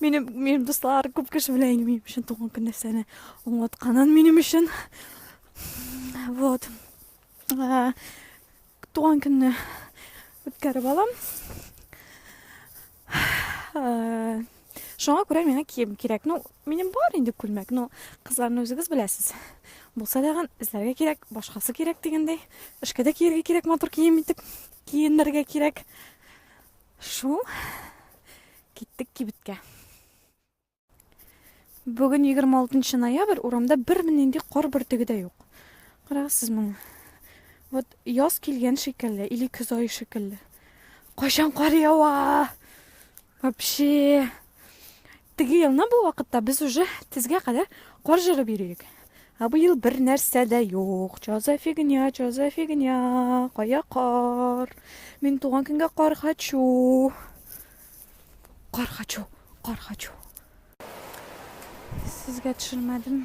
Минем, минем дуслар күп кеше белән инде минем өчен туган көн нәрсәне аңлатканын минем өчен. Вот. Ә, туган көнне үткәреп алам. Ә, Шуңа күрә миңа кием кирәк. Ну, минем бар инде күлмәк, но кызларны үзегез беләсез. Булса дагын эзләргә кирәк, башкасы кирәк дигәндәй. Эшкә дә киергә кирәк матур кием итеп, киенергә кирәк. Шу, киттек кибеткә. Бүген 26 ноябрь, урамда бер нинди кар бөртеге дә юк. Карагызсыз моны. Вот яз килгән шикелле, или көз ае шикелле. Кайчан кар ява? Вообще. Теге елны бу вакытта без уже тезгә кадәр кар җырып йөри идек. Ә бу ел бер нәрсә дә юк. Чо за фигня, чо за фигня, кая кар? Мин туган көнгә кар хочу. Кар хочу, кар хочу. Сезгә төшермәдем.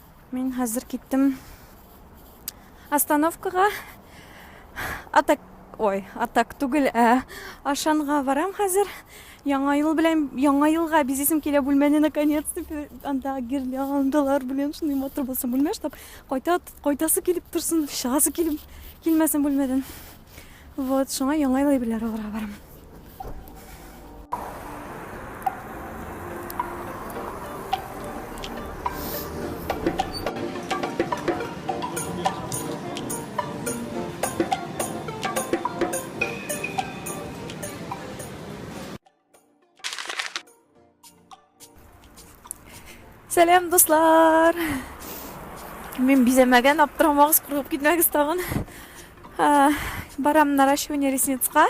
Мин хәзер киттем остановкага. Атак, ой, атак түгел, ә Ашанга барам хәзер. Яңа ел белән, яңа елга бизисем килә бүлмәне наконец-то анда гирляндалар белән шундый матур булсын бүлмә, чтоб кайта кайтасы килеп торсын, чыгасы килеп килмәсен бүлмәдән. Вот, шуңа яңа ел әйберләре алырга барам. Сәлам, дуслар! Мин бизәмәгән, аптырамагыз, куркып китмәгез тагын. Барам наращивание ресницка.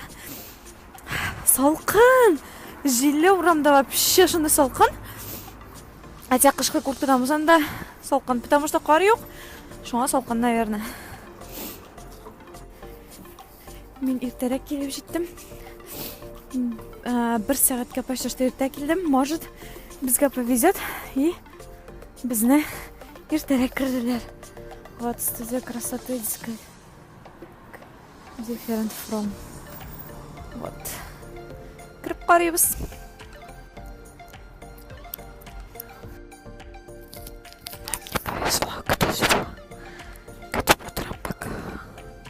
Салкын! Җилле урамда вообще шундый салкын. Хотя кышкы курткадан булсам да салкын, потому что кар юк. Шуңа салкын, наверное. Мин иртәрәк килеп җиттем. Э, бер сәгатькә почти что иртә килдем. Может, безгә повезет и безне иртәрәк керделәр. Вот студия красоты дискай. Different from. Вот. Кереп карыйбыз.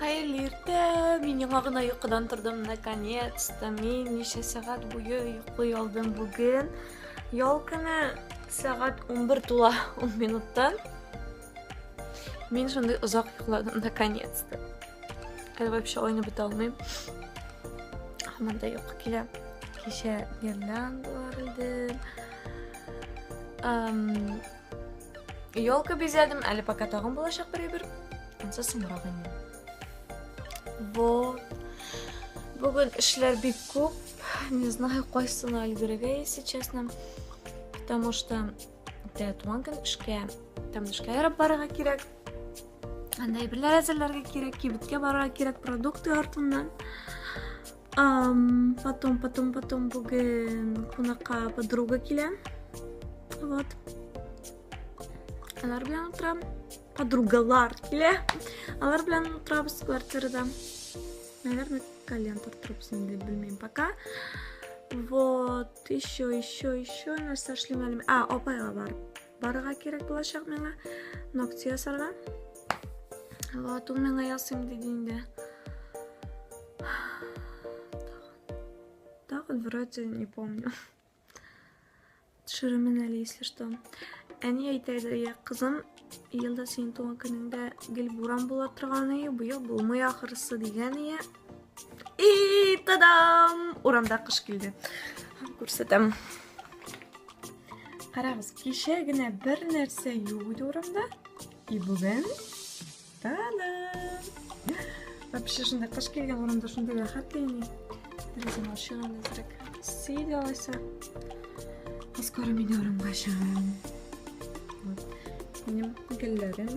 Хәерле иртә! Мин яңа гына йокыдан тордым, наконец-то. Мин ничә сәгать буе йоклый алдым бүген. Ял көне сәгать 11 тула 10 минуттан. Мин шундый озак йокладым, наконец-то. Әле вообще ойны бетә алмыйм. Һаман да йокы килә. Кичә гирляндалар идем. Елка бизәдем, әле пока тагын булачак бер әйбер. Ансы соңрак инде. Вот. Бүген эшләр бик күп. Не знаю, кайсына өлгерергә, если честно. Потому что тә туган көн эшкә, там эшкә ярап барырга кирәк. Анда әйберләр әзерләргә кирәк, кибеткә барырга кирәк продукты артыннан. Um, потом, потом, потом bugün konaqa подруга kile. Вот. Алар белән утырам. Подругалар килә. Алар белән утырабыз квартирада. Наверное, колен тартырбыз инде, белмим пока. Вот, еще, еще, еще нәрсә эшлим әле. А, апайга барып Барырга кирәк булачак миңа ногти ясарга. Вот, ул миңа ясыйм диде инде. Тагын вроде не помню. Төшеремен әле, если что. Әни әйтә иде, я кызым, елда синең туган көнеңдә гел буран була торган ие, быел булмый ахырысы дигән ие. И, тадам! Урамда кыш килде. Күрсәтәм. Карагыз, кичә генә бер нәрсә юк иде урамда. И бүген тадам! Вообще шунда кыш килгән урамда шунда рәхәт тени. Дөресен ашыган әзрәк. Сей дә алайса. Скоро мин урамга чыгам. Вот. Минем гөлләрем.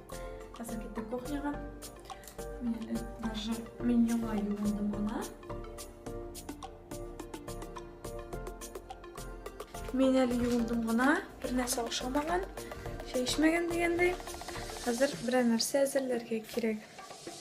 Хәзер киттек кухняга. Мин әле даже мин яңа юындым гына. Мин әле юындым гына, бер нәрсә ашамаган, чәй эчмәгән дигәндәй. Хәзер берәр нәрсә әзерләргә кирәк.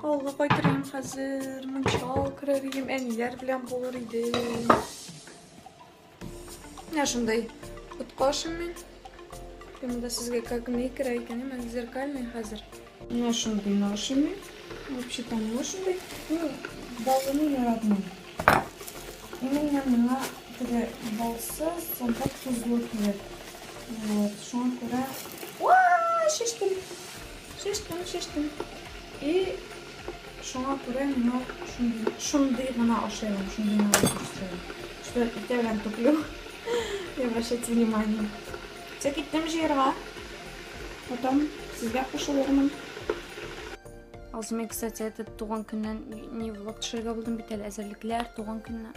Авылга кайтырым хәзер, мунчал керер идем, әниләр белән булыр идем. Менә шундай коткашым мин. Мен да сезгә как не керә икән, мен зеркальный хәзер. Менә шундый нашым мин. Вообще там менә шундый. Ну, балыны яратмыйм. Именно миңа теге балсыз, сонда тозлы кирәк. Вот, шуңа күрә... Уа, шештем! Шештем, шештем. И шуңа күрә миңа шундый гына ашыймын, шундый гына ашыймын. Что итә белән туплю. Не обращайте внимания. Все, киттем җыерга. Потом сезгә кушылырмын. Азмы, кстати, этот туган көннән не влог төшергә булдым бит әле әзерлекләр, туган көнне.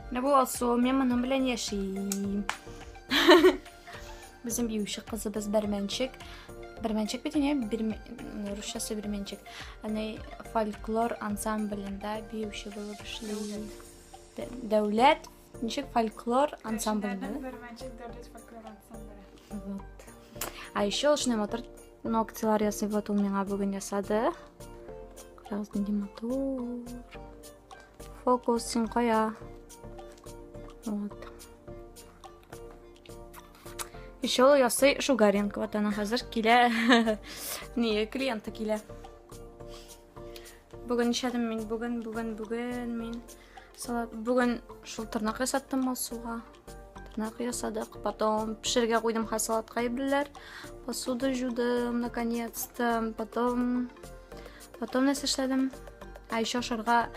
Менә бу Алсу, мен моның белән яшим. Безнең биюче кызыбыз Бәрмәнчек. Бәрмәнчек бит инде, русчасы Бәрмәнчек. Аны фольклор ансамблендә биюче булып эшли. Дәүләт ничек фольклор ансамблендә? Бәрмәнчек дәүләт фольклор ансамбле. Вот. А еще шуны мотор ногтилар ясый, вот ул миңа бүген ясады. Раз, нинди матур. Фокус син кая? Вот. Еще ул ясый Шугаренко. Вот она хәзер килә. Не, клиенты килә. Бүген эшләдем мин, бүген, бүген, бүген мин. Салат, бүген шул тырнак ясаттым Алсуга. Тырнак ясадык. Потом пешергә куйдым ха салатка ибләр. Посуду жудым наконец-то. Потом Потом нәрсә эшләдем? А еще ашарга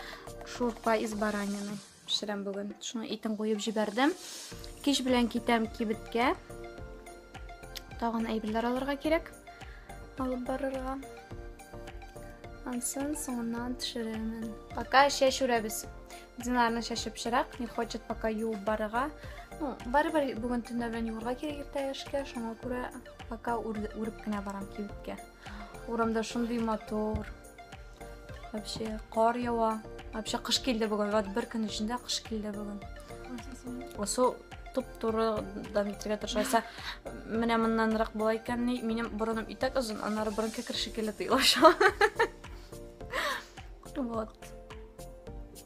шурпа из баранины пешерәм бүген. Шуны итен куеп җибәрдем. Кич белән китәм кибеткә. Тагын әйберләр алырга кирәк. Алып барырга. Ансын соңыннан төшерәмен. Пока чәч үрәбез. Динарны чәчеп чирак, не хочет пока юып барырга. Ну, барыбер бүген төнлә белән юырга кирәк иртәгәшкә, шуңа күрә пока үреп кенә барам кибеткә. Урамда шундый матур. Вообще кар ява. Вообще кыш килде бүген. Вот бер көн эчендә кыш килде бүген. Су туп-туры дам итәргә тырышасы. Менә моннанрак була икән, минем борыным итәк озын, аннары борын кекер шикелле тыелаша. Вот.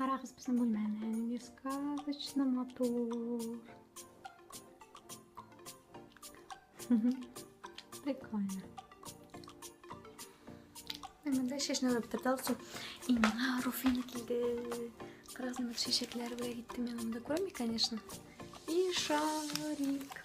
Карагыз безнең бүлмәне. Несказочно матур. Прикольно. Мен дә чәчне алып торды алсу. Имена Руфина килде. Карагыз, мен чәчәкләр белән киттем. Мен монда күрәм, конечно. И шарик.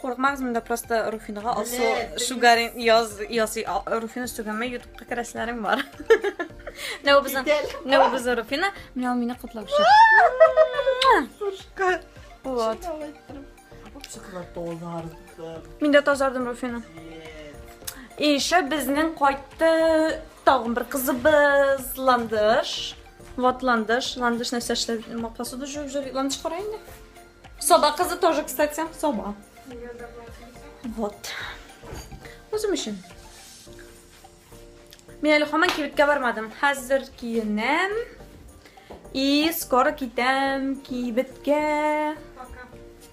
Курыкмагыз, монда просто Руфинага алсу шугарин яз ясый. Руфина сүгәмә ютубка керәселәрем бар. Нәү безнең Нәү безнең Руфина, менә мине котлап чык. Пушка. Вот. Мин дә тазардым Руфина. И еще безнең кайтты тагын бер кызыбыз Ландыш. Вот ландыш. Ландыш нәрсә эшләр? Посуду жуып жөр. Ландыш кара инде. Соба кызы тоже, кстати. Соба. Вот. Үзем өчен. Мин әле хаман кибеткә бармадым. Хәзер киенәм. И скоро китәм кибеткә.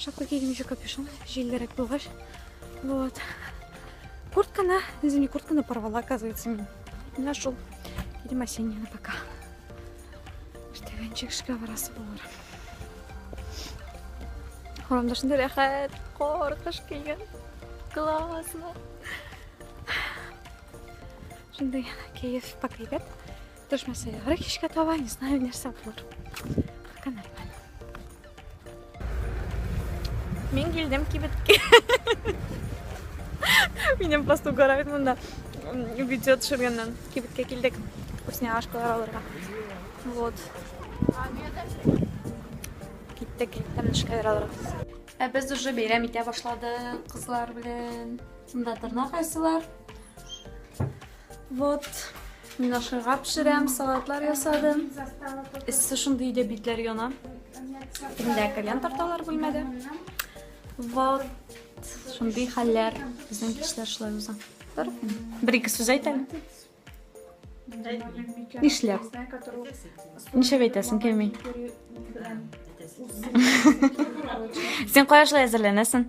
Шапка кигән еще капюшон, җиллерәк булгач. Вот. Куртканы, извини, куртканы порвала, оказывается, мин. Менә шул. Идем осеннияны пока. Штәгәнчек эшкә барасы булыр. Урамда шунда рәхәт, кар, кыш килгән. Классно. Шундай кәеф покрепет. Төшмәсә яхры кичкә таба, не знаю, нәрсә булыр. Пока нормально. Мин килдем кибеткә. Минем просто угорают монда видео төшергәннән. Кибеткә килдек. Вкусняшкалар алырга. Вот. Киттек. Тәмле шикәләр алырга. Ә без уже бәйрәм итә башладык кызлар белән. Шунда торна кайсылар. Вот, мин ашырга пешерәм, салатлар ясадым. Эссе шундый иде, битләр яна. Инде кальян тарталар бүлмәдә. Вот, шундый хәлләр. Безнең кичләр шулай уза. Бер-ике сүз әйт әле. Нишләп? Нишләп әйтәсең, кеми? Син кая шулай әзерләнәсең?